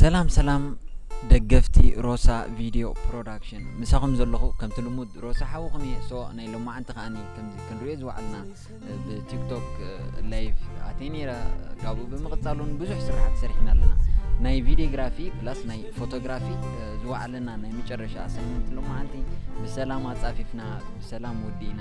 ሰላም ሰላም ደገፍቲ ሮሳ ቪድዮ ፕሮዳክሽን ምሳኹም ዘለኹ ከምቲ ልሙድ ሮሳ ሓውኹም እየ ሶ ናይ ሎማዓንቲ ከዓኒ ከምዚ ክንሪኦ ዝወዓልና ብቲክቶክ ላይቭ ኣትየ ነይረ ካብኡ ብምቕፃል እውን ብዙሕ ስራሕቲ ሰሪሕና ኣለና ናይ ቪዲዮግራፊ ፕላስ ናይ ፎቶግራፊ ዝወዓለና ናይ መጨረሻ ኣሳይመንት ሎማዓንቲ ብሰላም ኣፃፊፍና ብሰላም ወዲእና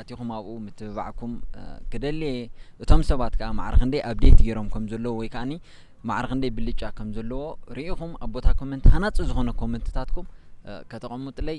ኣቲኹም ኣብኡ ምትብባዕኩም ክደሊ እየ እቶም ሰባት ከዓ ማዕረ ክንደይ ኣብዴት ገይሮም ከም ዘለዎ ወይ ከዓኒ ማዕረ ክንደይ ብልጫ ከም ዘለዎ ርኢኹም ኣብ ቦታ ኮመንት ሃናፂ ዝኾነ ኮመንትታትኩም ከተቐምጡለይ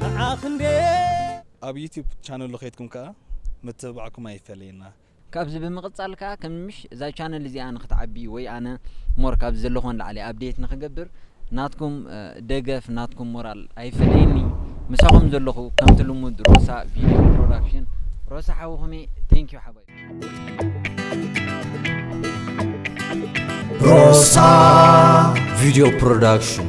ንዓኽ እንድየ ኣብ ዩቱብ ቻነሉ ከይድኩም ከኣ ምትብባዕኩም ኣይፈለየና። ካብዚ ብምቅጻል ከኣ ከም ምሽ እዛ ቻነል እዚኣ ንክትዓቢ ወይ ኣነ ሞር ካብዚ ዘለኩ ንላዕሊ ኣብዴት ንክገብር ናትኩም ደገፍ ናትኩም ሞራል ኣይፈለየኒ ምሳኩም ዘለኩ ከምቲ ልሙድ ሮሳ ቪድዮ ፕሮዳክሽን ሮሳ ሓውኩም እየ ቴንኪው ሓባይብ። ሮሳ ቪድዮ ፕሮዳክሽን